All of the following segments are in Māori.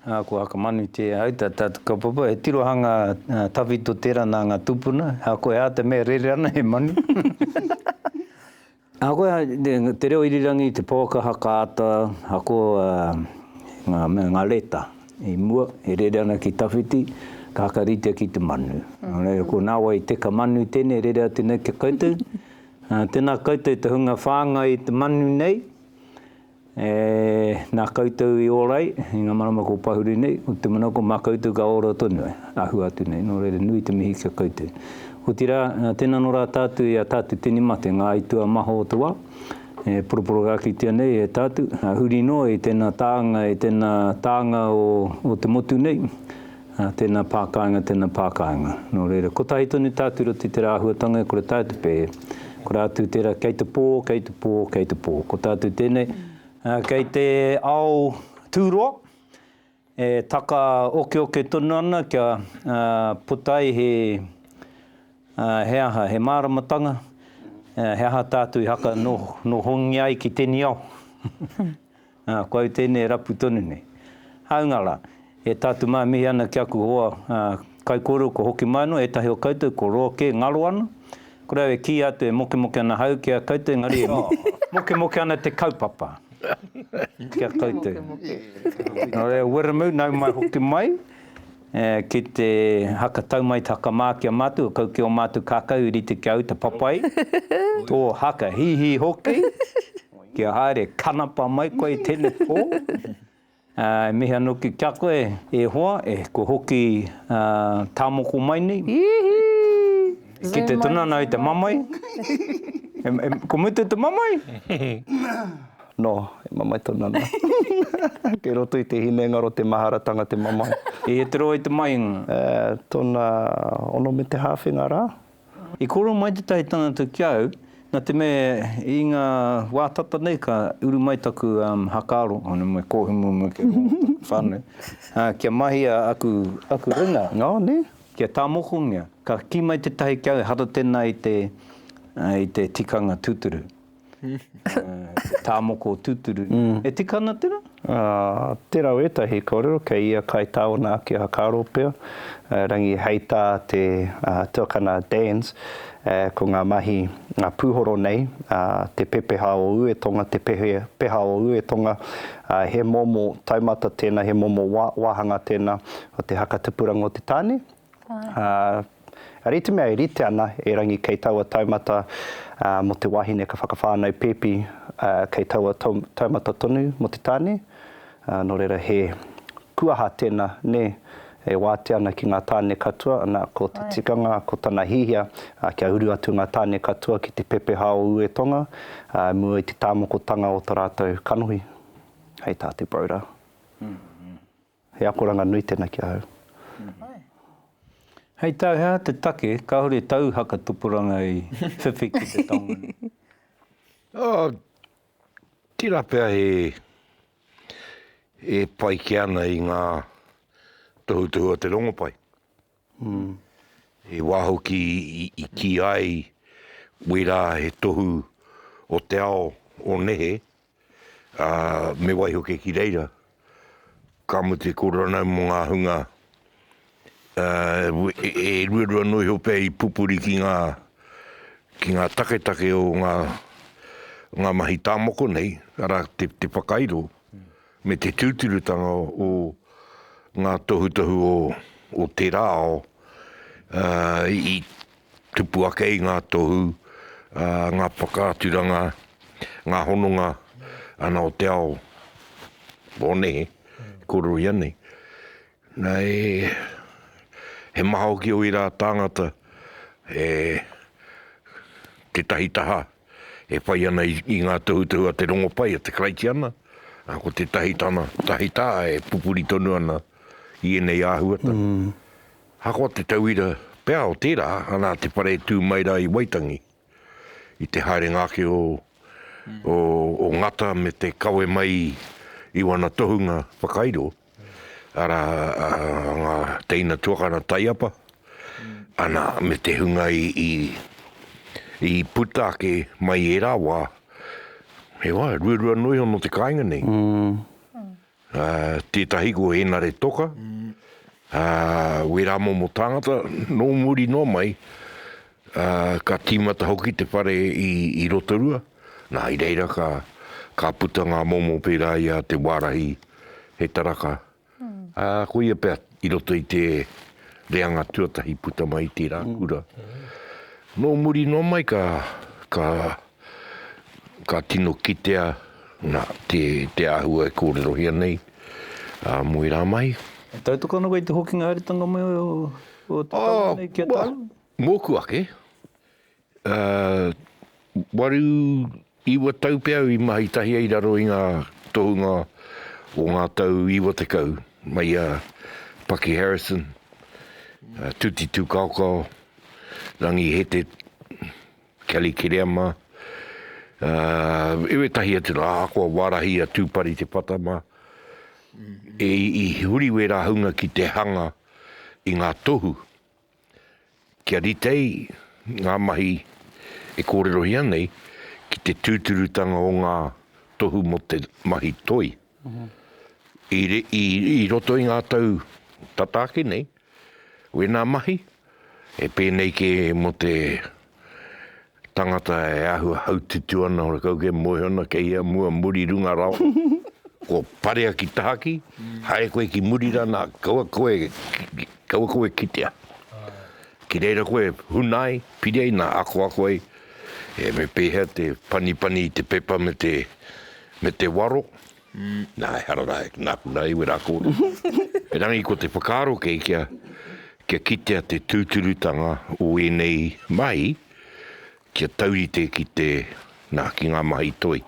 Ā, kua whakamanutia ai tā tātou kaupapa, he tirohanga tawhito tērā nā ngā tūpuna, ā, koe ā te mea rere ana he manu. Ā, koe ā te reo irirangi, te pouaka haka ata, ako ngā mea, ngā reta i mua e rere ana ki tawhiti, ka hakaritea ki te manu. Nō reira, ko nāwai teka manu tēnei e rere atu nei ki a koutou. Ā, tēnā koutou te hunga whāngai i te manu nei. E, nā koutou i ora ai, i ngā marama kua pahuri nei, ko te manawa ko mā koutou ka ora tonu ai, a hua atu nei, nō reira nui te mihi ki a koutou. Otirā, tēnā nō rā tātou i a tātou tini mate, ngā aituā maha o te wā, e poroporogakitia nei e tātou, huri noa i tēnā tānga, i tēnā tānga o, o te motu nei, Ā, tēnā pākāinga, tēnā pākāinga. Nō reira, kotahi tonu tā Turuti tērā āhuatanga e kore taea te pēhē. Ko rātou tērā, kei te pō, kei te pō, kei te pō. Ko tātou tēnei, kei te ao tūroa, e taka okeoke tonu ana kia puta ai he, he aha, he māramatanga, he aha tātou i haka nohongia ai ki tēnei ao. Ā, ko au tēnei e rapu tonu nei. Hāunga rā, e tātou mā e mihi ana ki aku hoa kaikōrero kua hoki mai noa, ētahi o koutou kua roa kē, ngaro ana. Ko re au e kīia atu e mokemoke ana hau ki a koutou, engari e mokemoke ana te kaupapa ki a koutou. Nō reira, Wiremu, nau mai hoki mai ki te haka tau mai te haka mā ki a mātou, kau ki ō mātou kākau i rite ki a au te papai, tō haka hīhī hoki. Kia haere kanapa mai koe i tene po. E mihi ano ki kia koe e hoa e kua hoki ta moko mai nei. Iihii. Ki te tunana i te mamae. Ko mutu te mamae? No, e mamae tonu ana. Kei roto i te hinengaro te maharatanga te mamae. E tiro ai te mahinga. Tona ono me te hawhinga ra. I kōrero mai tētahi tangata ki au, nā te mea i ngā wā tata nei ka uru mai taku hakaaro, nō me kōhimu me kī mō taku whānau, kia mahia aku ringa, oh nē, kia tāmokongia. Ka kī mai tētahi ki au, ehara tēnā i te tikanga tūturu. Tā moko o tūturu. E tika ana tērā? Tērā o ētahi kōrero kei ia kai tāona ake a Hakaroopea, Rangi hei tā te tuakana Danz, ko ngā mahi pūhoro nei, te pepeha o Uetonga, te peha o Uetonga, he momo taumata tēnā, he momo wāhanga tēnā o te haka tupuranga o te tāne, Ā, Ari te mea e rite ana e Rangi kei taua taumata mō te wāhine ka whakawhānau pēpi, ā, kei taua taumata tonu mō te tāne, ā, nō reira he kuaha tēnā, nē, e wātea ana ki ngā tāne katoa, ana, ko te tikanga, ko tana hiahia, ā, kia uru atu ngā tāne katoa ki te pepeha o Uetonga, ā, i mua i te tāmokotanga o tō rātou kanohi. Hei tā te Broder. He akoranga nui tena ki ahau. Hei tā hea te take kāore tau haka tupuranga i whiwhi ki te taonga nei? Oh, tira pea he, e pai ke ana i nga tohutohu o te rongopai. He wā hoki i kī ai wērā he tohu o te ao o nehe, ā, me waiho kē ki reira, ka mutu e kōrero ana mō ngā hunga, ā, e ruarua anō iho pea i pupuri ki ngā, ki ngā taketake o ngā, ngā mahi tā moko nei, arā, te whakairo, me te tūturutanga o ngā tohutohu o tērā ao i tupu ake i ngā tohu, ngā whakaaturanga, ngā hononga ana o te ao o nehe, kōrero i a nei. Nei, he maha hoki o ērā tāngata e tētahi taha e whai ana i ngā tohutohu a te rongopai, a te Karaitiana, ā, ko tētahi tana tahi tā e pupuri tonu ana i ēnei āhuatanga. Ahakoa te tauira pea o tērā, nā te whare e tū mai rā i Waitangi. i te haerenga ake o Ngata me te kawe mai i wana tohunga whakairo, ara nga teina tuakana taiapa, ana me te hunga i puta ake mai i era wa, he wa, ruarua no iho no te kainga nei. Ā, tētahi ko Henare Toka, ā, wērā momo tāngata, nō muri noa mai, ā, ka tīmata hoki te whare i, i Rotorua. Nā, i reira ka, ka puta ngā momo pērā i a Te Wārahi, he taraka, ā, koia pea i roto i te reanga tuatahi puta mai i tērā kura. Nō muri noa mai ka, ka. Ka tino kitea nā, te, te āhua e kōrerohia nei a Moe rā mai. E tautoko ana koe i te hokinga haeretanga mai o, o te tau nei kia tau? Oh, well, mōku ake, uh, waru, iwa tau pea au i mahi tahi ai i raro i ngā tohunga o ngā tau iwa tekau mai a Paki Harrison, a Tuti Tūkaokao, Rangi Hete, Kelly Kiriama, ā, i wētahi atu rā, ahakoa wārahi a Tūpari Te Pata mā, i, i huri wērā hunga ki te hanga i ngā tohu kia rite ai ngā mahi e kōrerohia nei ki te tūturutanga o ngā tohu mō te mahi toi. I, i, i roto i ngā tau tata ake nei, Wēnā mahi, e pēnei kē mō te tangata e āhua haututu ana, hore kau ke moe ana, kei hea mua, muri, runga rawa. Kua parea ki tahaki, haere koe ki muri rā, nā, kaua koe, kaua koe kitea. Ki reira koe huna ai, piri ai, nā, akoako ai, e, me pēhea te panipani i te pepa me te, me te waro. Nā, ehara rā, e ngā puna iwi rā kōrero. Erangi ko te whakaaro kei kia, kia kitea te tūturutanga o ēnei mahi, kia taurite ki te, nā, ki ngā mahi toi.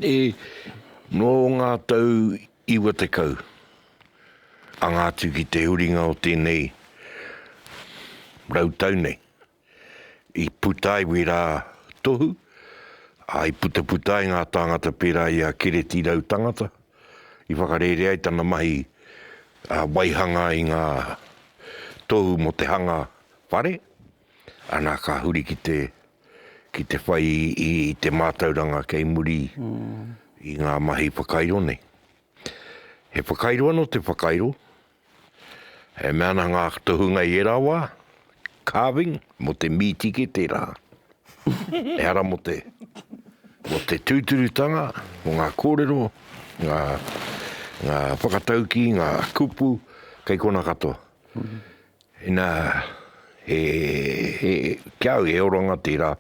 E, nō ngā tau iwa tekau, anga atu ki te huringa o tēnei rau tau nei. I puta iwi rā tohu, ā, i putaputa ai ngā tāngata pērā i a Kereti Rautangata, i whakarērea ai tana mahi waihanga i ngā tohu mō te hanga whare, ana ka huri ki te, ki te whai i te mātauranga kei muri i ngā mahi whakairo nei. He whakairo anō te whakairo, E mea ana ngā tohunga i ērā wā, carving, mō te mīti kē tērā. Ehara mō te, mō te tūturutanga, mō ngā kōrero, ngā, ngā whakataukī, ngā kupu, kei kona katoa. Inā, e, e, ki au he oranga tērā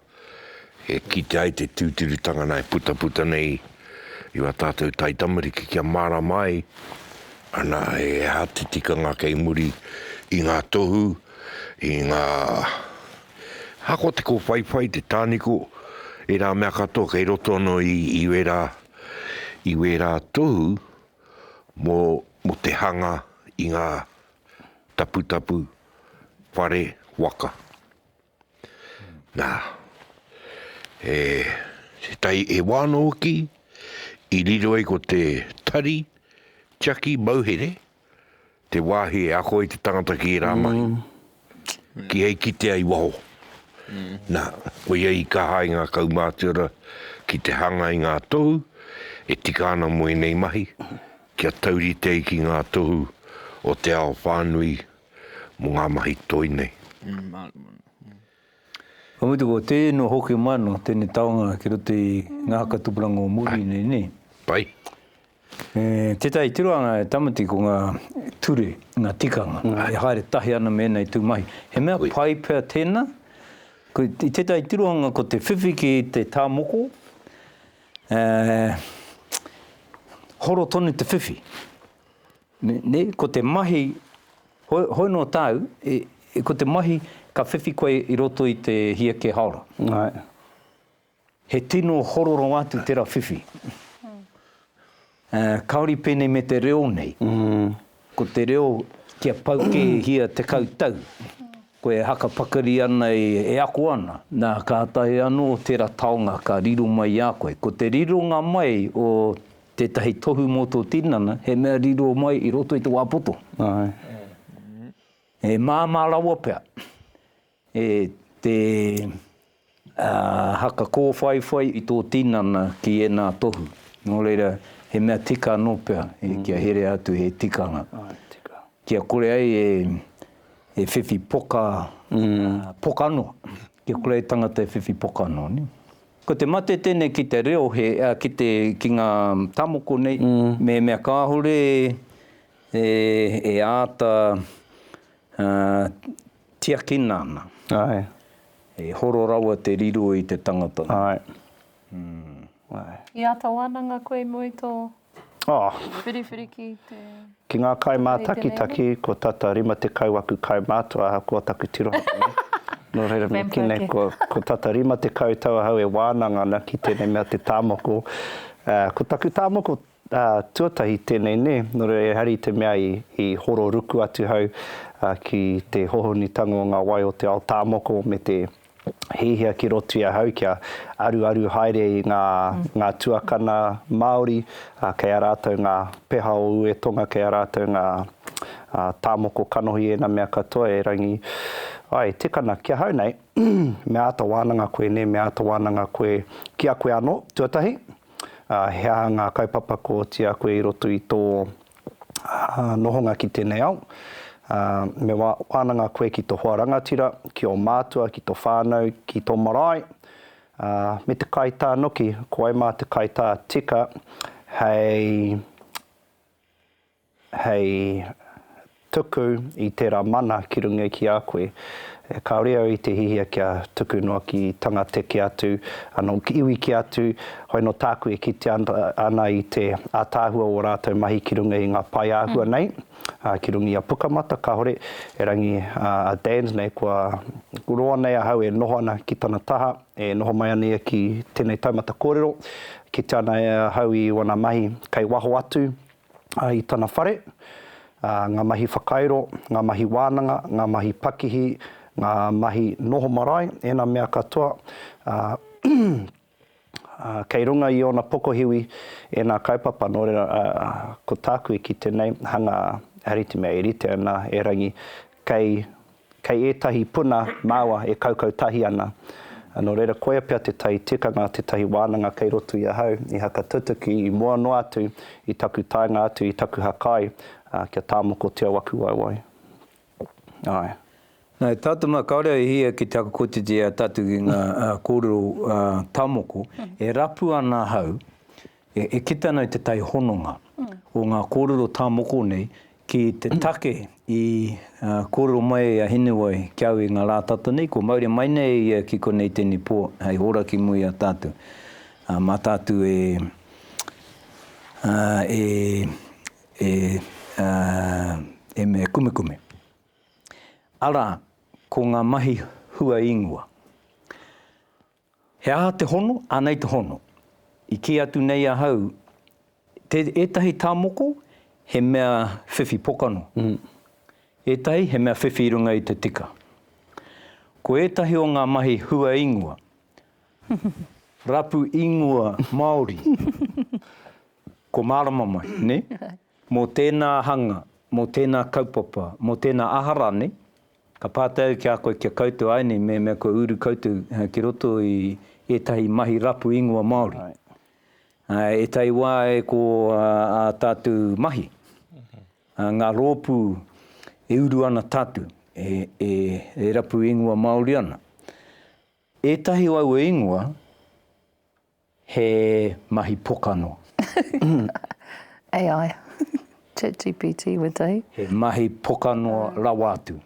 e kitea ai te tūturutanga nā e putaputa nei i wā tātou taitamariki kia mārama ai, anā, he aha te tikanga kei muri i ngā tohu, i ngā, aha ko te kōwhaiwhai, te tāniko, ērā mea katoa kei roto anō i, i wērā, i wērā tohu mō, mō te hanga i ngā taputapu, whare waka. Nā, he tētahi e wā anō hoki i riro ai ko te tari tiaki mauhere, te wāhi e ako ai te tangata ki ērā mahi, ki hei kitea i waho. Nā, koia i kaha ai ngā kaumātua ki te hanga i ngā tohu e tika ana mō ēnei mahi, Kia taurite ki ngā tohu o te ao whānui mō ngā mahi toi nei. Ka mutu, ko tēnō hoki mai anō tēnei taonga ki roto i ngā haka tupuranga o muri nei, nē? Pai. Tētahi tirohanga e Tamati ko ngā ture, ngā tikanga e haere tahi ana me ēnei tū mahi. He mea pai pea tēnā? I tētahi tirohanga ko te whiwhi ki te tā moko, Ā, horo tonu te whiwhi. Nē, ko te mahi, hoi nō tāu, ko te mahi ka whiwhi koe i roto i te hia kē haora. He tino hororo atu tera whiwhi. Ā, kāore i pēnei me te reo nei. Ko te reo kia pau kēhia tekau tau, koe e hakapakari ana e ako ana, nā, kātahi anō tērā taonga ka riro mai i a koe. Ko te rironga mai o tētahi tohu mō tō tinana, he mea riro mai i roto i te wā poto. He māmā rawa pea. E te haka kōwhaiwhai i tō tinana ki ēnā tohu, nō reira, he mea tika anō pea kia herea atu he tikanga, kia kore ai e whiwhi poka, pokano, kia kore ai tangata e whiwhi pokano. Ko te mate tēnei ki te reo, ki ngā tamoko nei, mēmea kāore e āta Tiakina ana. Aye. E horo rawa te riro i te tangata. Aye. Umm. Aye. I ata wananga koe mo i to. Oh. Whiriwhiri ki te. Ki nga kai matakitaki ko tata 50 aku kai matua ahakoa taku tirohanga nei. No reira me ki nei ko tata 50 tau ahau e wananga ana ki tenei mea te tamoko. Ko taku tamoko Ā, tuatahi tēnei nē, nō reira ehara i te mea i horo ruku atu hau ki te hohonutanga o ngā wai o te ao tāmoko me te hiahia ki roto i ahau kia aruaru haere i ngā tuakana Māori, ā, kei a rātou ngā peha o Ue Tonga, kei a rātou ngā tāmoko kanohi ēnā mea katoa e Rangi ai, Tikana, ki ahau nei, me āta wānanga koe nē, me āta wānanga koe ki a koe anō, tuatahi. ā, he aha ngā kaupapa kua oti a koe i roto i tō nohonga ki tēnei ao? Ā, me wānanga koe ki tō hoa rangatira, ki ō mātua, ki tō whānau, ki tō marae, ā, me te kaitā noki, ko wai mā te kaitā tika hei. hei tuku i tērā mana ki runga ki a koe, kāore au i te hihia kia tuku noa ki tangate kē atu, anō ki iwi kē atu, hoi anō tāku e kitea ana i te ātaahua o ō rātou mahi ki runga i ngā pae āhua nei, ā, ki runga i a Pukamata, kāore, erangi a Dan's nei, kua roa nei ahau e noho ana ki tana taha, e noho mai ana ia ki tēnei taumata kōrero, kitea ana e ahau i ōna mahi kei waho atu, i tana whare, ngā mahi whakairo, ngā mahi wānanga, ngā mahi pakihi, ngā mahi noho marae, ēnā mea katoa, ā, kei runga i ōna pokohiwi ēnā kaupapa, nō reira, ko tāku e kite nei, hanga, rite mea e rite ana, erangi, kei. Kei ētahi puna māua e kaukau tahi ana. Nō reira, koia pea tētahi tikanga, tētahi wānanga kei roto i ahau i hakatutuki i mua noa atu i taku taenga atu i taku hakai, ā, kia tāmokotia waku waewae. Āe. Nā, e tatama, kāore au e hia ki te hakakotiti i a tātou ki ngā kōrero tāmoko, e rapu ana ahau E kite ana i te tai hononga o ngā kōrero tā moko nei ki te take i kōrero mai ai a Hinewai ki au i ngā rā tata nei, kua mauri mai nei e ia ki konei tēnei pō hei hora ki mua i a tātou. Mā tātou e e mea kumekume. Arā, ko ngā mahi hua īngoa. He aha te hono? Anei te hono. I kī atu nei ahau, te ētahi tā moko, he mea whiwhi pokano. Ētahi, he mea whiwhi i runga i te tika. Ko ētahi o ngā mahi hua ingoa, rapu ingoa Māori, kua mārama mai, nē? Mō tēnā hanga, mō tēnā kaupapa, mō tēnā aha rānei, Ka pātai au ki a koe kia koutou ai nei mehemea kua uru koutou ki roto i ētahi mahi rapu ingoa Māori. Ētahi wā e ko ā tātou mahi, ngā rōpū e uru ana tātou e rapu ingoa Māori ana. Ētahi o aua ingoa, He mahi pokano. AI, chat GPT, wetahi. He mahi pokano rawa atu.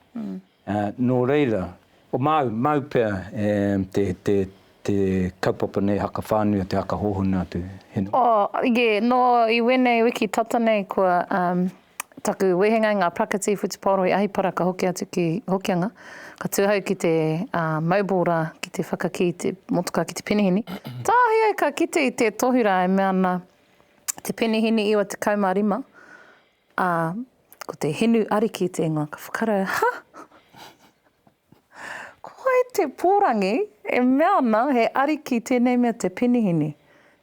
Nō reira, māu pea te kaupapa nei haka whānui, te haka hōhonu atu. Nō iwēnei wiki tata nei kua Taku wehenga i ngā prakati whutupaoro i Ahipara ka hoki atu ki Hokianga, ka tū ahau ki te mobile rā ki te whakakī te motoka ki te penihini. Tāhae au ka kite i te tohu rā e mea ana te penihini 95, ā, ko te hinu ariki te ingoa, ka whakarae, ha! Koe te pōrangi e mea ana he ariki tēnei mea te penihini,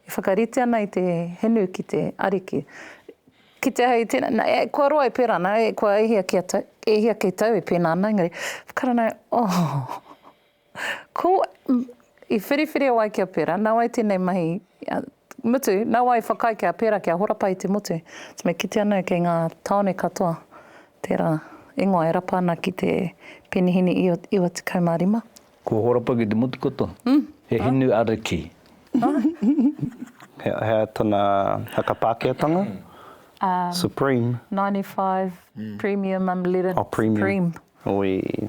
e whakarite ana i te hinu ki te ariki. Kite hei tēnei, nā, e, kua roa e pērā ana, e, kua e hia kia tau, e hia kei tau e pēnā ana, engari, whakarana, oh, ko, i whiriwhiria wai kia pērā, nā wai tēnei mahi, Mutu, nau ai whakai kia pera kia horapa i te motu. So me kite ana kei nga taone katoa tera ingoa e rapa ana ki te penihini iwa tekau ma rima. Kua horapa ki te motu katoa. He hinu ariki. Hea tana whakapaakeatanga? Supreme. 95 premium unleaded supreme. Oi.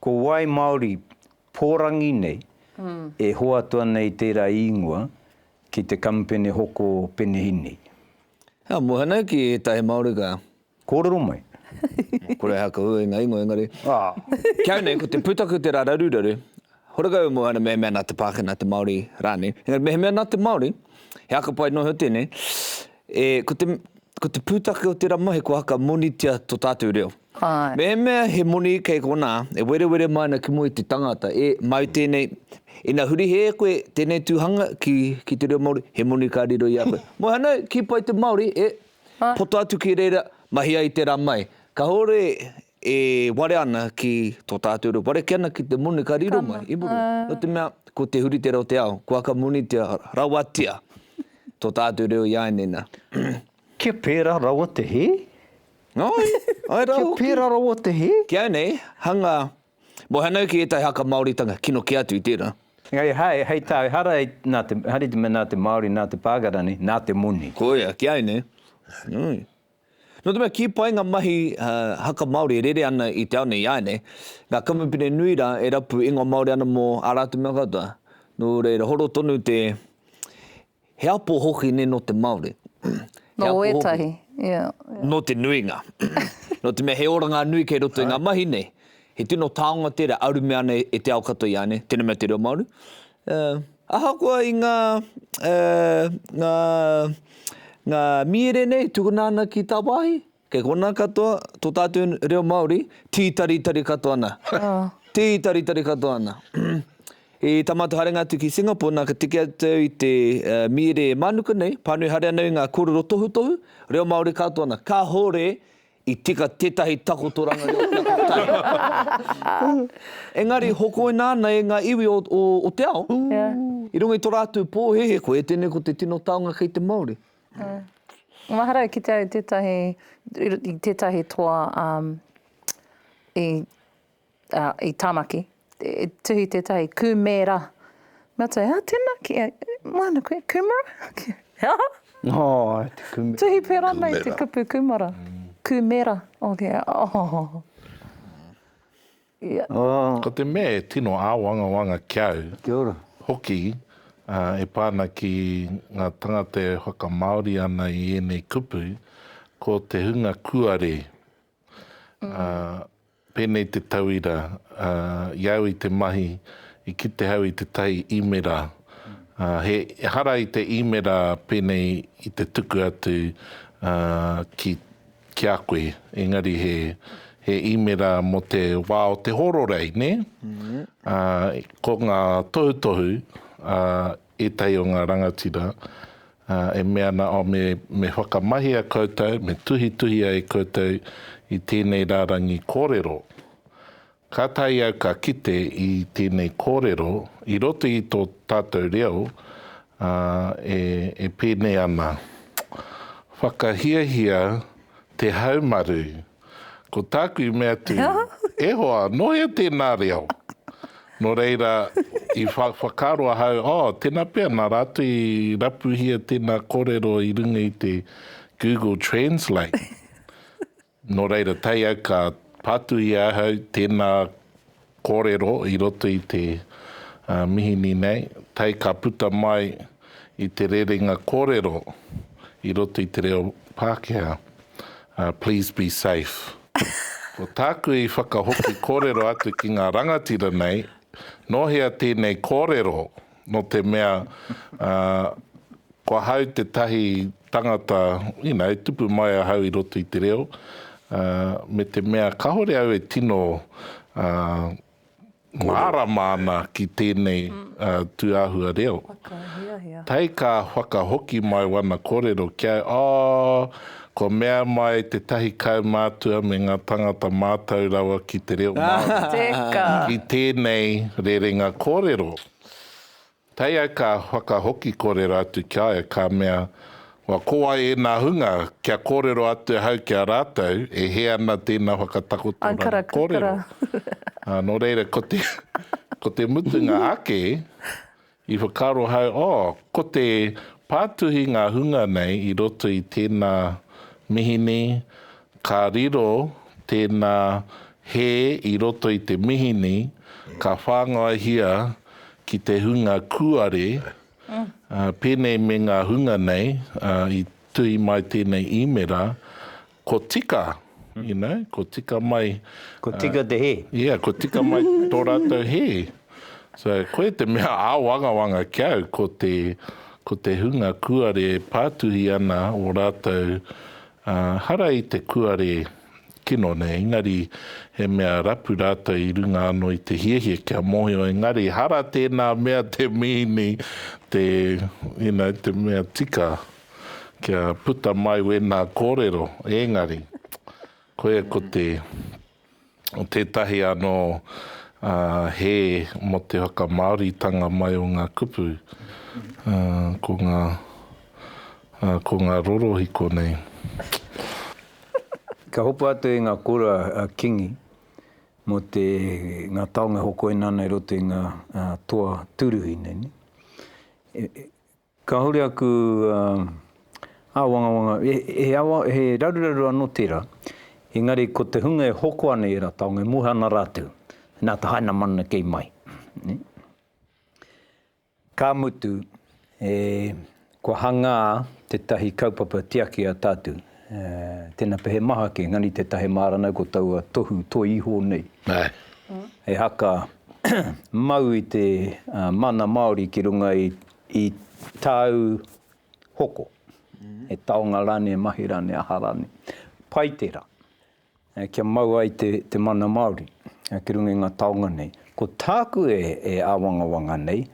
Ko wai Māori pōrangi nei e hoatu ana i tērā īngoa ki te kamupene hoko penehīni? Ka muha nei ki ētahi Māori ka. Kōrero mai. Kore hea ka hua i ngā īngoa engari. Ki au nei ko te pūtaku tērā raruraru, horekau e moe ana mehemea nā te Pākehā, nā te Māori rānei. Engari mehemea nā te Māori, he aka pai noa iho tēnei. E, ko te, ko te pūtake o tērā mahi kua haka monitia to tātou reo. Āe. Mēhemea he moni kei konā, e werewere mai ana ki mua i te tangata, e, māu tēnei, ina huri hē koe tēnei tūhanga ki, ki te reo Māori, he moni ka riro i a koe. Moe anō, kipa i te Māori, e, poto atu ki reira, mahia i tērā mai. Kahore E ware ana ki tō tātou reo. Ware ake ana ki te moni ka riro mai i muri. Nō te mea, ko te huritere o te ao, kua ka monitia rawatia tō tātou reo i āinena. Kia pērā rawa te hē? Ai, ai rā hoki. Kia pērā rawa te hē? Ki au nei, hanga, mo hanau ki ētahi haka Māoritanga, kino kē atu i tērā. Engari hai, hei tā au, hara, nā te, haere te mea nā te Māori, nā te Pākara nei, nā te moni. Koia, ki au nei. Nō te mea kī pai ngā mahi haka Māori e rere ana i te ao nei, āinei, ngā kamupene nui rā e rapu ingoa Māori ana mō ā rātou mea katoa. Nō reira, horo tonu te, he apo hoki nei nō te Māori. Nō ētahi, ia. Nō te nuinga. Nō te mea he oranga nui kei roto i ngā mahi nei. He tino taonga tērā, arume ana e te ao katoa i a nei, tēnei mea te reo Māori. Ahakoa i ngā, ngā, ngā mīere nei, tukuna ana ki tāwāhi, kei konā katoa tō tātou reo Māori, tītaritari katoa ana. Tītaritari katoa ana. I tamātou haerenga atu ki Singapore, nā, ka tiki atu au i te mīere mānuka nei, pānui haere ana i ngā kōrero tohutohu, reo Māori katoa ana. Kāore I tika tētahi takotoranga reo ki a koutou. Engari, hokoina ana e ngā iwi o te ao, i runga i tō rātou pōhēhē, koia tēnei ko te tino taonga kei te Māori. Mahara e kite ai i tētahi, i tētahi toa i I Tāmaki, i tuhi tētahi kūmēra. Me atu, ā, tēnā ki a, māna koe, kūmara? He aha? Āe, te kūmera. Tuhi pērā nei te kupu kūmara. Kūmera, oke, oh. Ko te mea e tino āwangawanga ki au. Kia ora. Hoki, e pā ana ki ngā tangata e whakamāori ana i ēnei kupu, ko te hunga kuare. Pēnei te tauira, ā, i au i te mahi, i kite au i te tai īmera, ā, he ehara i te īmera pēnei i te tuku atu, ā, ki, ki a koe, engari he, he īmera mō te wā o te hororei, nē? Ā, ko ngā tohutohu, ā, Ētahi o ngā rangatira e mea ana, oh, me, me whakamahia koutou, me tuhituhia e koutou i tēnei rārangi kōrero. Kātahi au ka kite i tēnei kōrero i roto i tō tātou reo, ā, e, e pēnei ana, Whakahiahia te haumaru Ko tāku i mea atu, E hoa, nō hea tēnā reo? Nō reira, i whakaaro ahau, oh, tēnā pea, nā rātou i rapuhia tēnā kōrero i runga i te Google Translate. Nō reira, tae au ka pātuhi ahau tēnā Kōrero i roto i te mihini nei, tae ka puta mai i te rerenga kōrero i roto i te reo Pākehā, Please be safe. Ko tāku i whakahoki kōrero atu ki ngā rangatira nei, nō hea tēnei kōrero Nō te mea, ko ahau tētahi tangata, you know, e tupu mai ahau i roto i te reo, me te mea kāore au e tino mārama ana ki tēnei tūāhua reo. Tae ka whakahoki mai wana kōrero ki au, oh, Kua mea mai tētahi kaumātua me ngā tāngata mātau rawa ki te reo Māori i tēnei rerenga kōrero. Kei au ka whakahoki kōrero atu ki a au, ka mea, Wa ko wai ēnā hunga, kia kōrero atu ahau ki a rātou, e hē ana tēnā whakatakotoranga kōrero? Nō reira, ko te mutunga ake, I whakaaro hau, oh, ko te pātuhi ngā hunga nei i roto i tēnā mihini, ka riro tēnā hē i roto i te mihini, ka whāngaihia ki te hunga kūare, pēnei me ngā hunga nei i tuhi mai tēnei īmera, Ko tika, you know, ko tika mai. Ko tika te hē. Yeah, ko tika mai tō rātou hē. So, koe te mea āwangawanga ki au, ko te, ko te hunga kuare e pātuhi ana o rātou hara i te kuare kino nei, engari he mea rapu rātou i runga anō i te hiahia kia mōhio, engari hara tēnā mea te mīhini, te, you know, te mea tika. Kia puta mai wena korero engari koe ko te tetahi ano he mo te whakamaoritanga mai o nga kupu ko nga ko nga rorohiko nei. Ka hopa atu e nga kura a kingi mo te nga taonga e hokoina ana i roto i nga toa turuhi nei. Kāore aku āwangawanga, he raruraru anō tērā, engari ko te hunga e hoko ana i ērā taonga, e moe ana rātou, nā te haina mana kei mai. Ka mutu, kua hangā tētahi kaupapa tiaki a tātou, tēnā pea he maha kē, engari tētahi māranau ko taua tohu toi iho nei, he haka mau i te mana Māori ki runga i I tāu hoko, he taonga rānei, he mahi rānei, aha rānei, pai tērā kia mau ai te mana Māori ki runga i ngā taonga nei. Ko tāku e āwangawanga nei,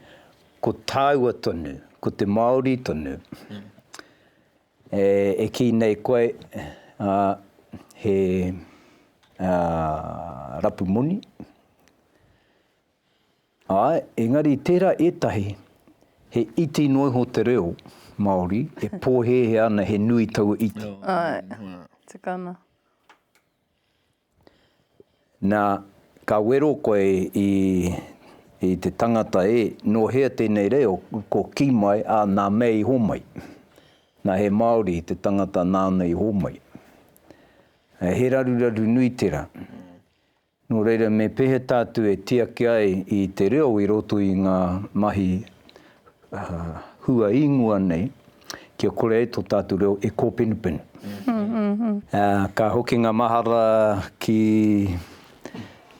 ko tāua tonu, ko te Māori tonu e kī nei koe he rapu moni, Āe, engari i tērā ētahi, he iti noa iho te reo Māori e pōhēhē ana he nui taua iti. Āe, tukana. Nā, ka wero koe i, i te tangata e, nō hea tēnei reo, ko ki mai, ā, nā mea i homai. Nā, he Māori te tangata nāna i homai. He raruraru nui tērā. Nō reira me pehe tātou e tiaki ai i te reo i roto i ngā mahi hua īngoa nei kia kore ai tō tātou reo e kōpenupenu. Ka hoki ngā mahara ki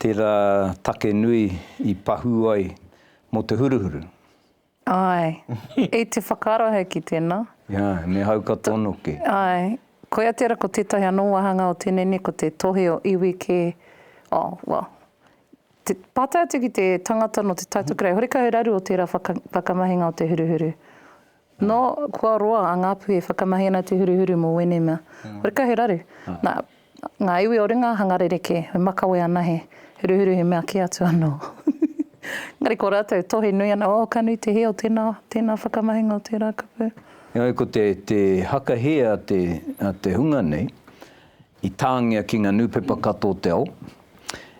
tērā take nui i pahū ai mō te huruhuru. Ae. I te whakaaro ahau ki tena. Ae, me hauka tono ke. Ae. Koia tera ko tetahi ano wahanga o tenei nei ko te tohe o iwi ke, oh, well, te pata atu ki te tangata no te taito kerei, hore kaha he raru o tera whakamahinga o te huruhuru. No, kua roa a Ngapuhi e whakamahi ana te huruhuru mo wenei mea. Hore kaha he raru. Na, Ngā iwi o ringa hanga rerekē, e makawe ana he huruhuru he mea kē atu anō. Engari ko rātou tohe nui ana, oh ka nui te hē o tēnā, tēnā whakamahinga o tērā kupu. Engari ko te, te haka hē a te, a te hunga nei, i tāngia ki ngā nūpepa katoa o te ao,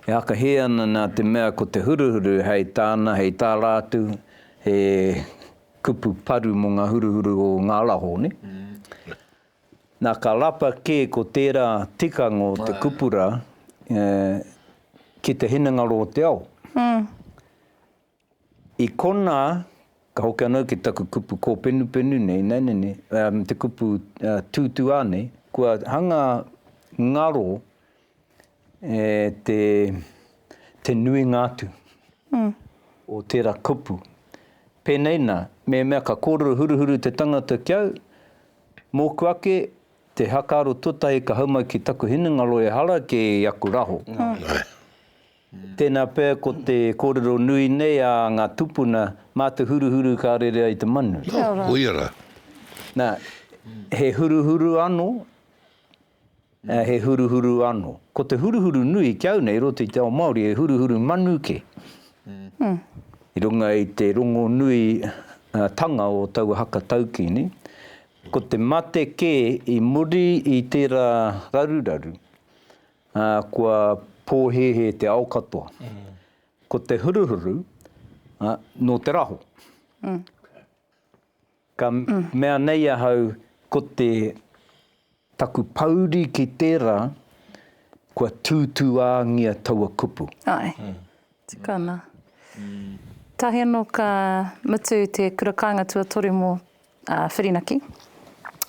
e haka hē ana nā te mea ko te huruhuru hei tāna, hei tā rātou, he kupu paru mō ngā huruhuru o ngā araho, nē? Na ka rapa ke ko tera tikanga o te kupura ki te hinengaro o te ao. I kona, ka hoki ano ki taku kupu kopenupenu nei, naina nei, te kupu tutua nei, kua hanga ngaro, te nuinga atu o tērā kupu. Pēnei nā, mēmea ka kōrero huruhuru te tangata ki au, mōku ake, te hakaaro tuatahi ka hau mai ki taku hinengaro e hara kē i aku raho. Tēnā pea ko te kōrero nui nei a ngā tūpuna, mā te huruhuru ka rere ai te manu. Nā, he huruhuru anō. He huruhuru ano. Ko te huruhuru nui ki au nei roto i te ao Maori he huruhuru manu ke. I runga i te rongo nui tanga o taua haka taukini, ko te mate ke i muri i tera raruraru, a kua pohehe te ao katoa. Ko te huruhuru, no te raho. Ka mea nei ahau ko te taku pouri ki tērā kua tūtūāngia taua kupu. Ae. Tukana. Tahi anō ka mutu te kura kāinga tuatoru mō Whirinaki.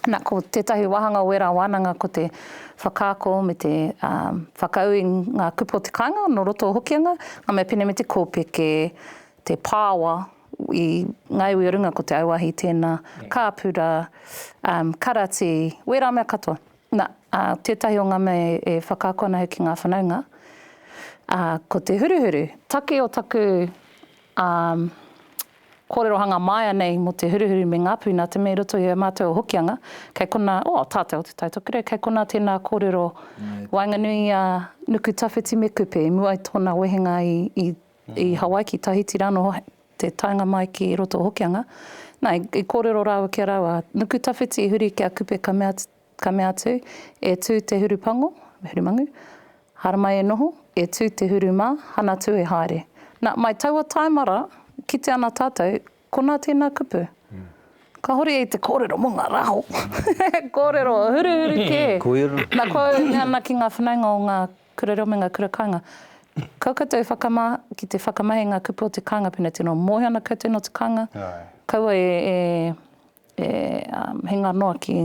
Na, ko tētahi wāhanga o ērā wānanga ko te whakaako me te whakaū i ngā kupu o te kāinga nō roto o Hokianga, ngā mea pēnei me te kōpeke, te pāoa i ngā iwi o runga ko te auahi tēnā, kāpura, karati, wērā mea katoa. Na, tētahi o ngā mea e whakaako ana hoki ngā whanaunga, ko te huruhuru. Take o taku kōrerohanga māia nei mō te huruhuru me ngā puna, te mea i roto i a mātou o Hokianga, kei konā, o, tātou o Te Tai Tokerau, kei konā tēnā kōrero waenganui i a Nuku Tawhiti me Kupe i mua i tōna wehenga i I Hawaii ki Tahiti rānō te taenga mai ki roto o Hokianga. Na, i kōrero rāua ki a rāua, a Nukutawhiti i huri ki a Kupe ka mea, ka mea atu, E tū te huru pango, me huru mangu, haramai e noho, e tū te huru mā, hana tū e haere. Na, mai taua taemara, kite ana tātou, konā tēnā kupu. Kāhore i te kōrero mō ngā rāho. Kōrero huruhuru kē. Koia rā. Na, kua ui mea ana ki ngā whanaunga o ngā Kura reo me ngā kura kāinga. Kau koutou whakama ki te whakamahi i ngā kupu o te kāinga pēnei te noa. Mōhio ana koutou nō te kāinga, kaua e, e, e um, hinga noa ki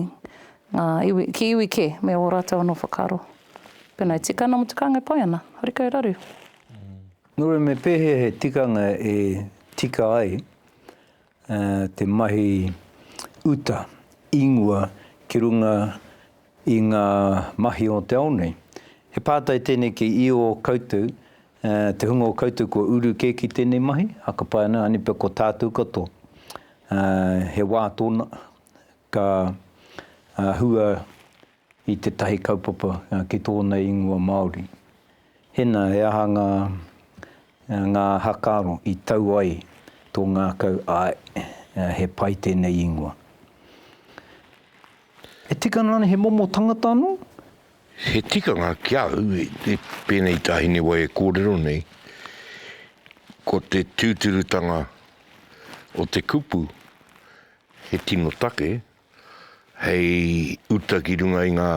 ngā iwi, ki iwi kē, me ō rātou anō whakaaro. Pēnā e tika ana mō te kāinga e pai ana, hori kau raru. Nō reira me pēhea he tikanga e tika ai te mahi uta ingoa ki runga i ngā mahi o te ao nei. He pātai tēnei ki i ō koutou, te hunga o koutou kua uru kē ki tēnei mahi, a ka pai ana, anipia ko tātou katoa. He wā tōna ka hua. i tētahi kaupapa ki tōna ingoa Māori. Hena, he aha ngā, ngā haka aro i tau ai tō ngākau, āe, he pai tēnei ingoa. E tika ana rānei he momo tangata anō? He tikanga ki au, i pēnei tāhine wai e kōrero nei, ko te tūturutanga o te kupu he tino take, hei uta ki runga i ngā,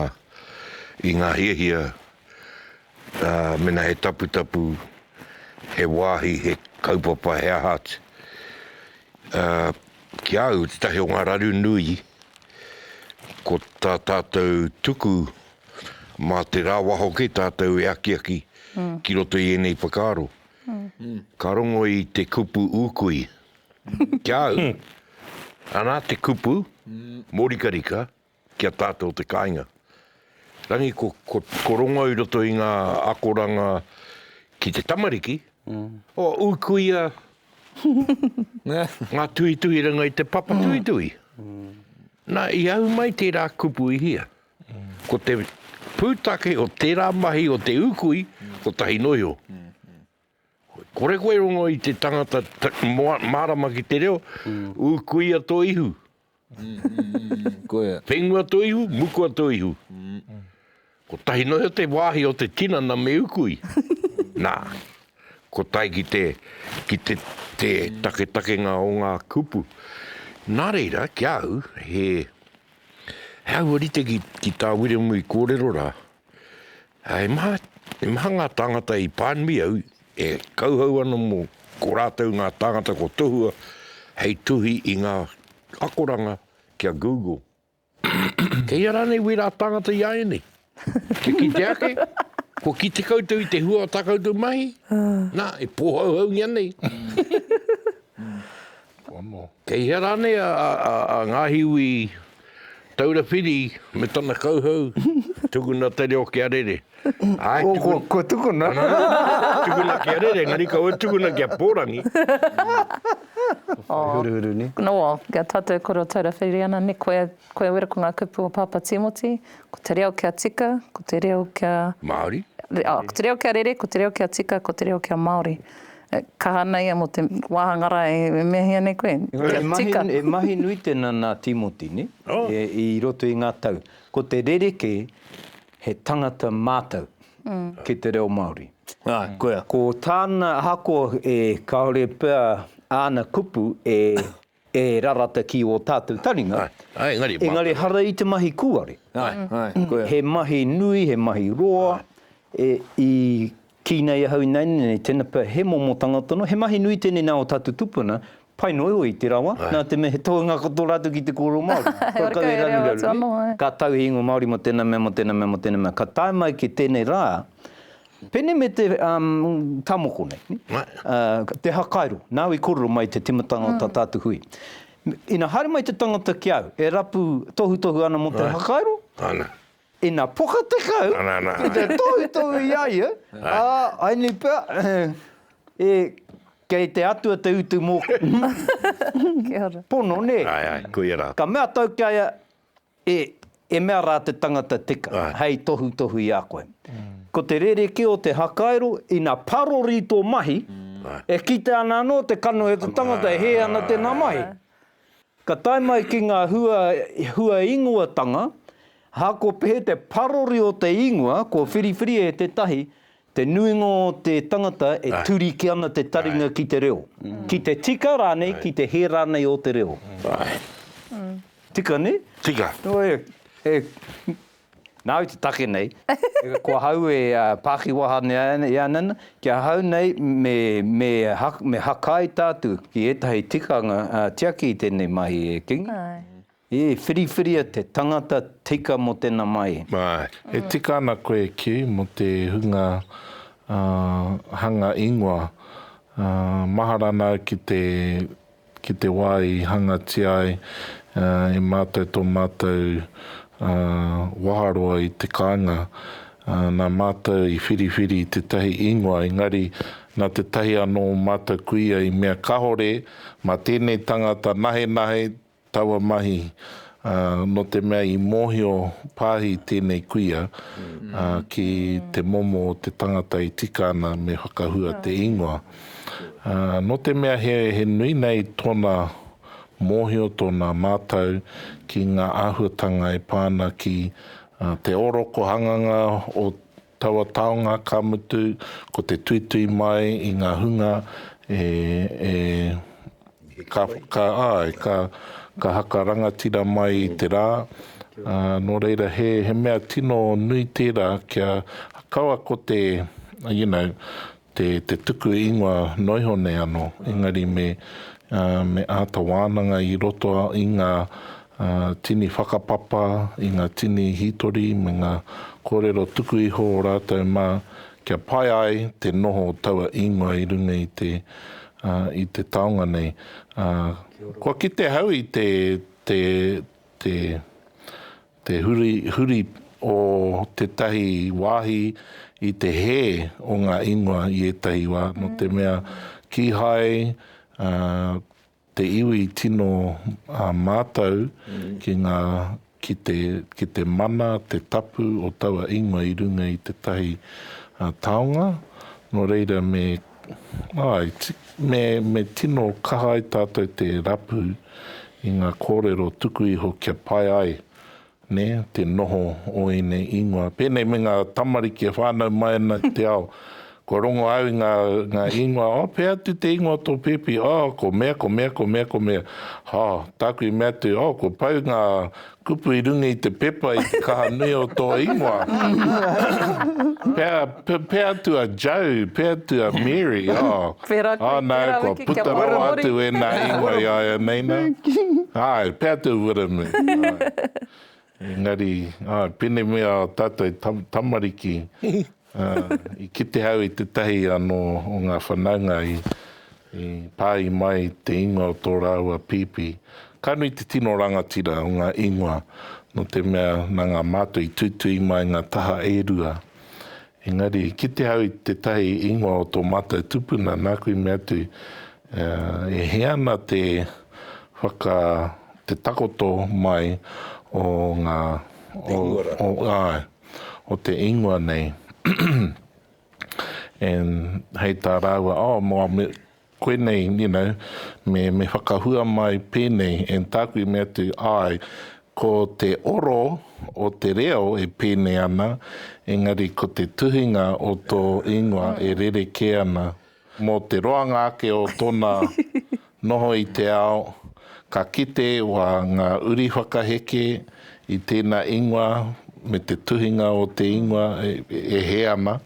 i ngā hiahia, ā, mena he taputapu, he wāhi, he kaupapa, he aha atu. Ā, ki a au, tētahi o ngā raru nui, ko tā tātou tuku mā te rāwaho kē tātou e akiaki ki roto i ēnei whakaaro. Ka rongo i te kupu ūkui, Ki a au, anā te kupu mōrikarika ki a tātou te kāinga. Rangi, ko, ko, ko rongo i roto i ngā akoranga ki te tamariki, o ukuia ngā tuhituhiranga i te papa tuhituhi. Nā, i au mai tērā kupu i hia. Ko te pūtake o tērā mahi o te ukui, ko tahi noio. Kore koe rongo i te tangata marama ki te reo, u kuia to ihu. Whenua to ihu, mukua to ihu. Kotahi noa iho te wahi o te tinana me ukui. Na, kotahi ki te, ki te, te taketakenga o nga kupu. Na reira, ki a au, he, he aua rite ki, ki ta Wiremu i korero ra, Ā, he maha, he maha ngā tāngata i pānui au, e kauhau ana mō ko rātou ngā tāngata ko Tohua hei tuhi i ngā akoranga ki a Google. Kei ia rānei wērā tāngata i āianei? Kia kite ake, kua kite koutou i te hua o tā koutou mahi? Nā, e pōhauhaungia nei. Kei hea rānei a, a, a, a Ngāhiwi Taura Whiri me tana kauhau, tukuna te reo kia rere. Āe, tukuna. Ko, ko tukuna. Ana, ana, ana, tukuna kia rere, engari kaua e tukuna kia pōrangi. Whai huruhuru, nē? Nō, kia tātou e koro Taura Whiri ana, nē, koe, koe wera ko ngā kupu o Pāpā Tīmoti, ko te reo kia tika, ko te reo kia. Māori. Ko te reo kia rere, ko te reo kia tika, ko te reo kia Māori. Kaha nei ia mo te wahanga ra e mehia nei koe. Kia tika. E mahi nui tena na Timoti ne, i roto i nga tau. Ko te rereke he tangata matou ki te reo Maori. Ko tana ahakoa e kaore pea ana kupu e. E rarata ki ō tātou taringa. Āe, engari mātou. Engari hara i te mahi kūare. Āe, āe, koia. He mahi nui, he mahi roa. E, i kī nei ahau ināianei nei, tēnā pea he momo tangata noa, he mahi nui tēnei nā ō tātou tupuna, pai noa iho i te rawa, nā te mea he tohunga katoa rātou ki te kōrero Māori. He ora kau, he reo atua noa. Ka tau he ingoa Māori mō tēnā mea, mō tēnā mea, mō tēnā mea. Ka tae mai ki tēnei rā, Pene me te ta moko nei, te hakairo, nau i korero mai te timatanga o ta tatu hui. Ina haere mai te tangata ki au, e rapu tohutohu ana mo te hakairo, ina poka te kau ki te tohutohu i a ia, a, ai nei pea, e, kei te Atua te utu moku. Pono, ne? Ka mea tau ki a ia, E, e mea rā te tangata tika, hei tohutohu i a koe. Ko te rerekē o te hakairo, ina parori tō mahi, e kite ana anō te kanohi o te tangata e hē ana tēnā mahi. Ka tae mai ki ngā hua, hua ingoatanga, hakopehe te parori o te ingoa, kua whiriwhiri e tētahi, Te nuinga o te tangata e turiki ana te taringa ki te reo, ki te tika rānei, ki te hē rānei o te reo. Tika, nē? Tika. Nā au te take nei, ko ahau e pākiwaha i a nana, ki ahau nei me hakai tātou ki ētahi tikanga tiaki i tēnei mahi e Kingi. E whiriwhiria te tangata tika mo tena mai. E tika ana koe ki mo te hunga hanga ingoa. Mahara ana au ki te ki te wa i hangatia ai e matou to matou waharoa i te kainga. Na matou i whiriwhiri i tetahi ingoa engari na tetahi ano o matou kuia i mea kahore ma tenei tangata nahenahe taua mahi, ā, nō te mea i mōhio pāhi tēnei kuia, ā, ki te momo o te tangata e tika ana me whakahua te ingoa. Ā, nō te mea he, he nui nei tōna mōhio, tōna mātau ki ngā āhuatanga e pā ana ki, ā, te ōroko hanganga o Taua taonga, ka mutu, ko te tuitui mai i ngā hunga e, e, ka, ka, āe, ka, ka haka rangatira mai i te rā, ā, nō reira, he, he mea tino nui tērā kia kaua ko te, you know, te te tuku ingoa noiho nei ano engari me me ata wananga i roto i nga tini whakapapa i nga tini hitori me nga korero tuku iho o ratou ma kia pai ai te noho o taua ingoa i runga i te i te taonga nei kua kite hau i te te te Te hurihuri o tētahi wāhi i te hē o ngā ingoa i ētahi wā, nō te mea kīhai te iwi tino mātau ki ngā, ki te, ki te mana, te tapu o taua ingoa i runga i tētahi taonga, nō reira me Āe, me tino kaha ai tātou te rapu i ngā kōrero tuku iho kia pai ai te noho o ēnei īngoa. Pēnei me ngā tamariki e whānau mai ana ki te ao, kua rongo au i ngā īngoa, Oh, pēhea atu te īngoa o tō pēpi? Oh, ko mea, ko mea, ko mea, ko mea. Oh, tāku i mea atu, Oh, kua pau ngā Kupu i runga i te pepa i te kaha nui o tō ingoa. Pea, pea atu a Joe, pea atu a Mary, oh. Pērā koe, pērā wiki kia whakahoria. Oh no, kua puta rawa atu wēnā ingoa i a ia nei nā. Āe, pea atu Wiremu, āe. Engari, āe, pēnei me ā tātou tamariki. I kite au i tētahi anō o ngā whanaunga i pāhi mai te ingoa o tō rāua pīpī. Ka nui te tino rangatira o ngā ingoa, nō te mea nā ngā mātua i tuitui mai ngā taha e rua. Engari, i kite au i tētahi ingoa o tō mātou tupuna, nāku i mea atu, E hē ana te whaka, te takoto mai o ngā. Te ingoa rā. Āe. o te ingoa nei. And hei tā rāua, oh, mō, me, koinei, you know, me, me whakahua mai pēnei. And tāku i mea atu, āe, ko te oro o te reo e pēnei ana, engari ko te tuhinga o tō ingoa e rerekē ana. Mō te roanga ake o tōna noho i te ao, ka kite wā ngā uri whakaheke i tēnā ingoa me te tuhinga o te ingoa e hē ana,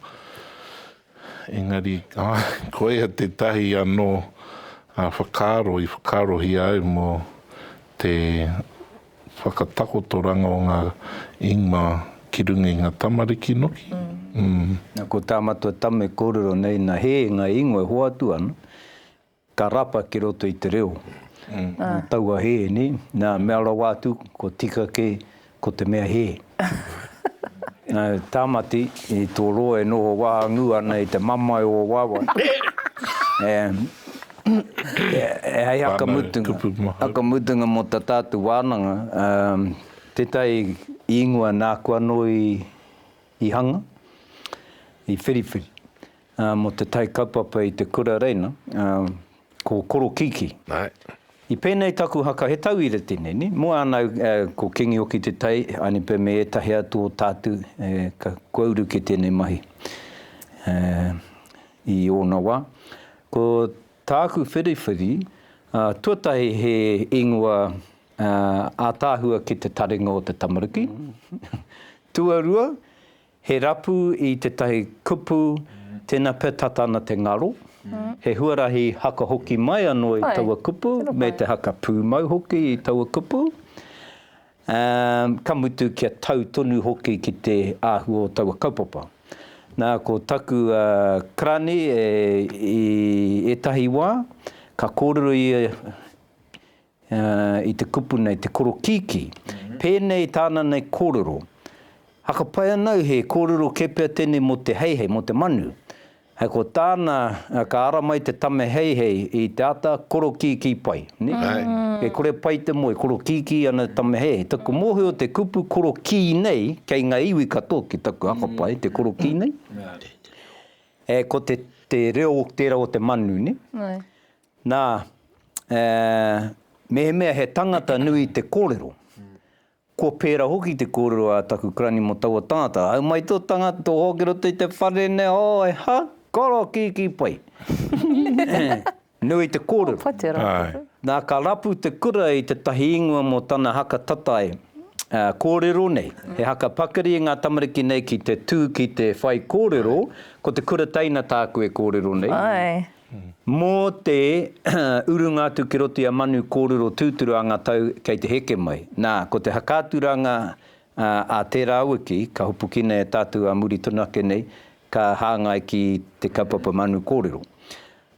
engari, āe, koia tētahi anō whakaaro i whakaarohia ai mō te Whakatakotoranga o nga ingma ki runga i nga tamariki noki, mm. Na ko ta matua tama e korero nei na he nga ingoa e hoatu ana, ka rapa ki roto i te reo. Taua he, ne, na mea rawa atu ko tika ke ko te mea he. Tamati, i to roa e noho wahangu ana i te mamae o wawae. Hei haka mutunga, haka mutunga mo ta tatu wananga, tetai ingoa naku ano i hanga, i whiriwhiri. Mō te tai kaupapa i te kura reina, ko Korokiki. I pēnei taku haka, he tauira tēnei, nē? Mō ānau, ko Kingi Oki Te Tai, Anipe me ētahi atu o tātou, kua uru ki tēnei mahi i ōna wā. Ko tāku whiriwhiri, tuatahi he ingoa ātaahua ki te taringa o te tamariki. Tuarua, He rapu i tētahi kupu, tēnā pea tata ana te ngaro, he huarahi haka hoki mai anō i taua kupu, me te haka pūmau hoki i taua kupu, ā, ka mutu kia tau tonu hoki ki te āhua o taua kaupapa. Nā, ko taku karani i ētahi wā, ka kōrero ia i te kupu nei, te korokīkī, pēnei tāna nei kōrero, Hakapai ana au he kōrero kē pea tēnei mō te heihei, mō te manu. Hei ko tāna, ka ara mai te tame heihei i te ata, korokīkī pai. E kore pai te moe, korokīkī ana te tame heihei. Taku mōhio te kupu korokī nei, kei ngā iwi katoa ki taku hakapai, te korokī nei, ko te reo tērā o te manu. Nā, ā, mehemea he tangata nui te kōrero, kua pērā hoki te kōrero a taku karani mō taua tangata, Au mai tō tangata, tō hoa ki roto i te whare nei, ō, he ha, koro, kīkī pai. Nui te kōrero. Kua te rapu. Nā, ka rapu te kura i tētahi ingoa mō tana haka tatae, ā, kōrero nei. He haka pakari i ngā tamariki nei ki te tū ki te whaikōrero, ko te kura teina tāku e kōrero nei. Āe. Mō te urunga atu ki roto i a Manu kōrero tūturu a ngā tau kei te heke mai. Nā, ko te whakaaturanga a tērā wiki, ka hopukina e tātou ā muri tonu ake nei, ka hāngai ki te kaupapa Manu kōrero.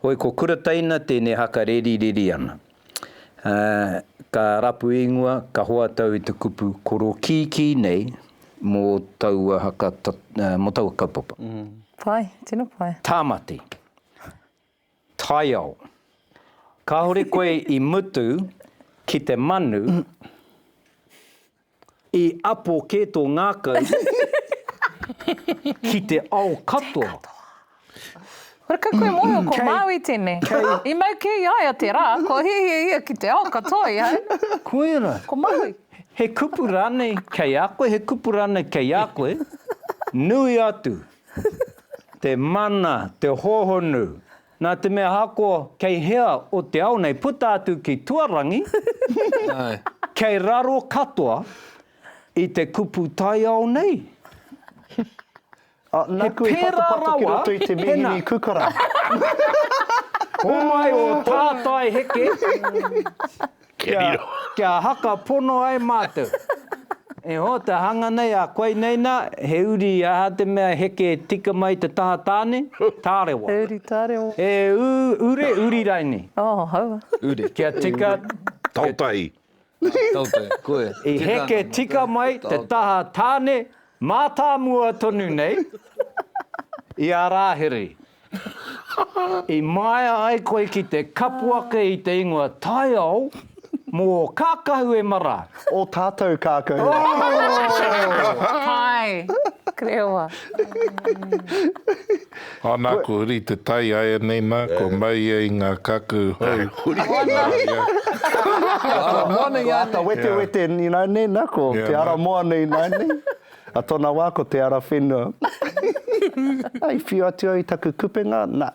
Hoi ko Kura Teina tēnei haka rerireri ana. Ka rapu ingoa, ka hoatau i te kupu koro kīkī nei mō taua haka, mō taua kaupapa. Pai, tino pai. Tāmati. Taiao. Kāore koe i mutu ki te manu, i apo kē tō ngākau ki te ao katoa. Kore kau koe mōhio ko Māui tēnei. I mau kē i a ia te rā, kua hiahia ia ki te ao katoa i a au. Koia rā. Ko Māui. He kupu rānei kei a koe, he kupu rānei kei a koe, nui atu. te mana, te hohonu, nā te mea ako kei hea o te ao nei puta atu ki tuarangi, kei raro katoa i te kupu taiao nei. He pērā rawa, tēnā. Homai o tātai heke. Kia haka pono ai mātou. E hoa te hanga nei a koinei nā, he uri i aha te mea heke tika mai te taha tāne? Tārewa. He uri tārewa. He ure, uri raini. Oh, haua. Uri. Kia tika. Tautai. Tautai, koe. I heke tika mai te taha tāne mātāmua tonu nei i a Rāhiri. I maea ai koe ki te kapu ake i te ingoa taiao mō kākahu e mara. O tātou kākahu. Oh! Pai! Kreoa. Ana ko Huri te tai aianei na kua mau ia i nga kakahu hou. Huri te tai ia. Ko Ata Moana i a nei. Ko Ata Wetewete ni na nei na ko Te Ara Moana i na nei. A tona wa ko te ara whenua. I whiu atu au i taku kupenga, na,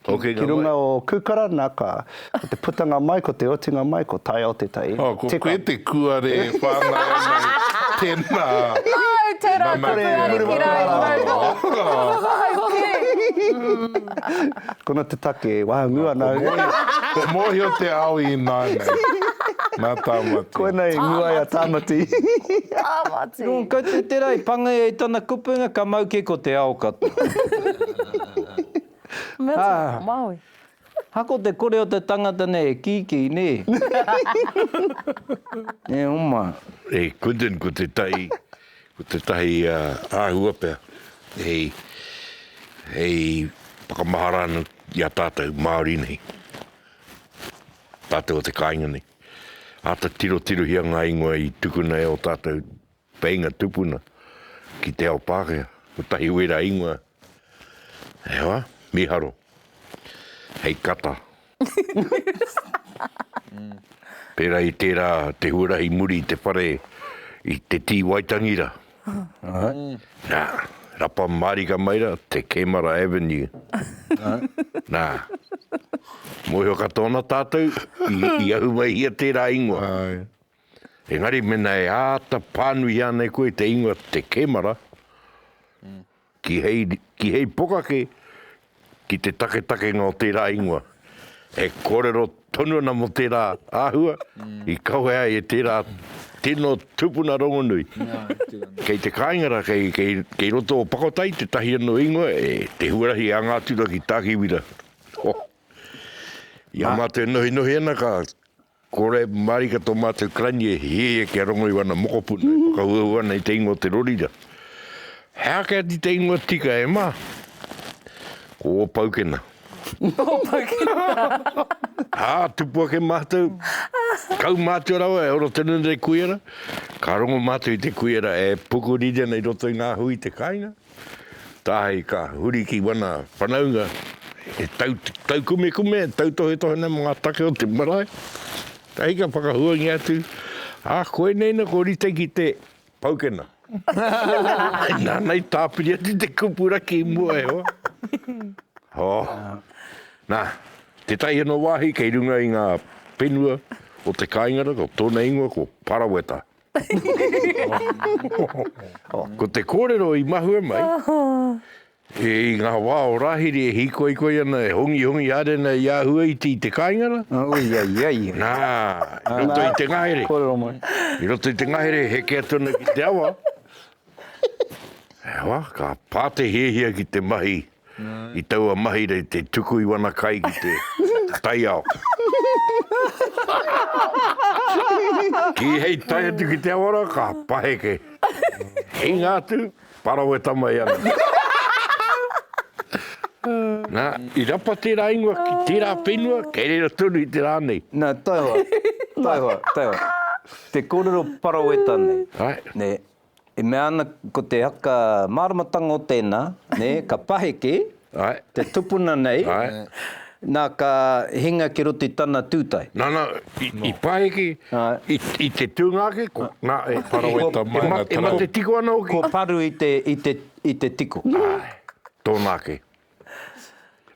ki runga o Kukara, na, ka, ko te putanga mai, ko te otinga mai, ko Taiao te tai. Oh, ko koe te kuare e whangai mai, tena. Oh, tera taku ariki rau. Tera taku ariki rau. Kono te take, wahangū ana au. Ko Mōhio te ao ināianei, nā Tāmati. Koinei i ngū ai a Tāmati. Tāmati. Nō Kaitūtera i pāngai ai tana kupenga ka mau kē ko te ao katoa. Mea tau, Māui. Ha ko te kore o te tangata nei e kīkī, nē. E oma. E Quinton ko te tai Ko tētahi āhua pea hei whakamahara ana i a tātou Māori nei, tātou o te kāinga nei. Āta tirotirohia ngā ingoa i tukuna e ō tātou painga tupuna ki te ao Pākehā. Kotahi wērā ingoa E hoa, miharo. Hei kata. Pera i tera te huarahi muri i te whare i te tii Waitangi ra. Na, rapa marika mai ra te Kemara Avenue. Na, mohio katoa na tatou i ahumaihia tera ingoa. Engari mena e āta pānui ānei koe i te ingoa te kemara, ki hei, ki hei pokake, ki te taketakenga o tērā ingoa, e kōrero tonu ana mō tērā āhua i kawe ai e tērā tino tupuna rongonui. Kei te kāinga rā, kei, kei, kei roto o Pakotai tētahi anō ingoa, e, te huarahi a Ngātura ki Tākiwira. Oh. I a mātou e nohinohi ana ka Kore marika to matou karani e hiahia kia rongo i wana mokopuna e whakahuahu ana i te ingoa o te rorira. He ake atu te ingoa tika e ma, ko o Paukena. O Paukena. A, tupu ake matou, kau matua rawa e ora tonu ana te kuiara, ka rongo matou i te kuiara e pukuriri ana i roto i nga hui i te kainga. Tāhei ka huri ki wana whanaunga e taukumekume, tautohetohena mō ngā take o te marae, tahi ka whakahuangia atu, ā, koinei nō ko Rita ki te paukena. Nāna i tāpiri atu te kupu raki i mua e hoa. Hō! Nā, tētahi anō wāhi kei runga i ngā whenua o te kāinga rā, ko tōna ingoa ko Paraweta. Ko te kōrero i mahue mai, i ngā wā o Rāhiri e hīkoikoi ana, e hongihongi haere ana i āhua iti i te kāinga rā. Oi, ai, ai. Nā, i roto i te ngahere. Kōrero mai. I roto i te ngahere, heke atu ana ki te awa. Hewa, ka pā te hiahia ki te mahi i taua mahi rei te tuku i wana kai ki te taiao. Kī hei tae atu ki te awara, ka paheke. Hinga atu, parawe tama i ana. Nā, i rapa tērā ingoa ki tērā whenua, kei reira tonu i te rā nei. Nā, taihoa, taihoa, taihoa. Te kōrero paraweta nei. Nē. E mea ana ko te haka māramatanga o tēnā, nē, ka paheke te tupuna nei, nā ka hinga ki roto i tana tūtae. Nana, i paheke i te tūnga ake, nā, e mate tiko ana hoki. Kua paru i te tiko. Āe, tōna ake.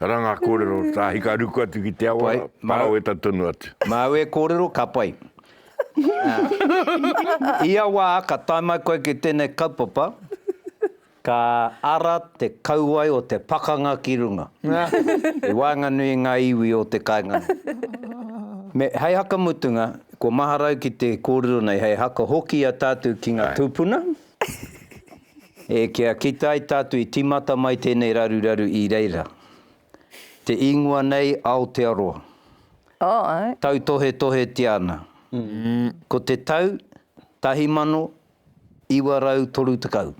Ara ngā kōrero, tāhi ka ruku atu ki te awa, paraweta tonu atu. Māu e kōrero, ka pai. Ia wā ka tae mai koe ki tēnei kaupapa, ka ara te kauae o te pakanga ki runga, i waenganui i ngā iwi o te kāinga nei. Hei hakamutunga, kua maharau ki te kōrero nei, hei haka hoki i a tātou ki ngā tūpuna. E kia kita ai tātou i tīmata mai tēnei raruraru i reira. Te īngoa nei Aotearoa. Tautohetohetia ana. Ko te tau 1930.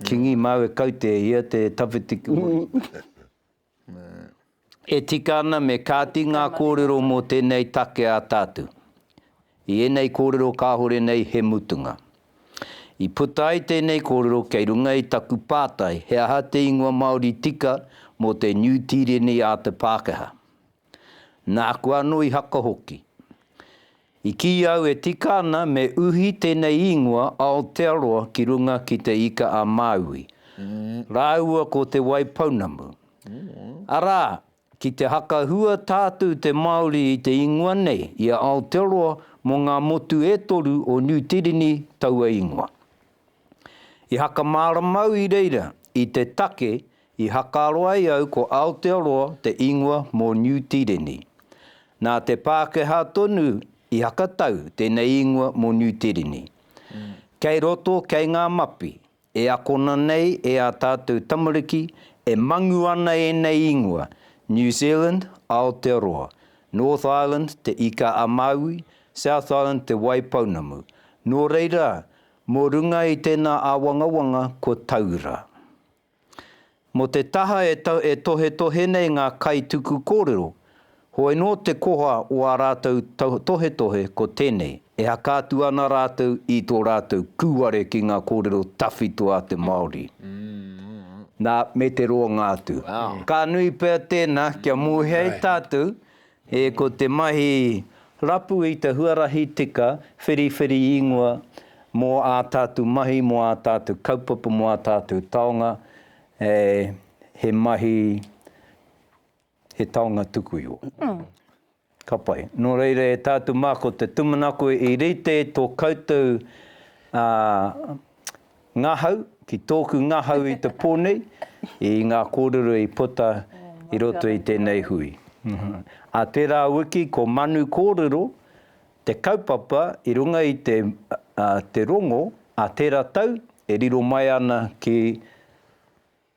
Kingi māu e kaute ia te tawhiti kua. E tika ana me kāti ngā kōrero mō tēnei take a tātou. I ēnei kōrero kāore nei he mutunga. I puta ai tēnei kōrero kei runga i taku pātai he aha te ingoa Māori tika mō te Niu Tīreni a te Pākehā. Nāku anō i haka hoki. I kīia au e tika ana me uhi tēnei īngoa Aotearoa ki runga ki Te Ika-a-Māui rāua ko Te Waipounamu. Arā, ki te hakahua tātou te Māori i te īngoa nei, i a Aotearoa mō ngā motu e toru o Niu Tīreni taua īngoa. I hakamāramau i reira i te take i hakaaro ai au ko Aotearoa te ingoa mō Niu Tīreni. Nā te Pākehā tonu i hakatau tēnei ingoa mō Niu Tīreni. Kei roto, kei ngā mapi, e akona nei e ā tātou tamariki e mangu ana ēnei ingoa, New Zealand, Aotearoa, North Island, Te Ika-a-Māui, South Island, Te Wai Pounamu. Nō reira, Mō runga i tēnā āwangawanga ko Taura. Mō te taha e tohetohe nei ngā kaituku kōrero, hoi nō te koha o ā rātou tohetohe ko tēnei, e haka atu ana rātou i tō rātou kūware ki ngā kōrero tawhito a te Māori. Nā, me te roanga atu. Ka nui pea tēnā kia mōhia e tātou E Ko te mahi rapu i te huarahi tika whiriwhiri ingoa mō ā tātou mahi, mō ā tātou kaupapa, mō ā tātou taonga, he mahi, he taonga tuku iho. Ka pai. Nō reira e tātou mā ko te tūmanako i rite tō koutou Ngahau, ki tōku ngahau i te pō nei, i ngā kōrero i puta i roto i tēnei hui. Ā tērā wiki ko Manu Kōrero te kaupapa i runga i te te rongo, ā tērā tau e riro mai ana ki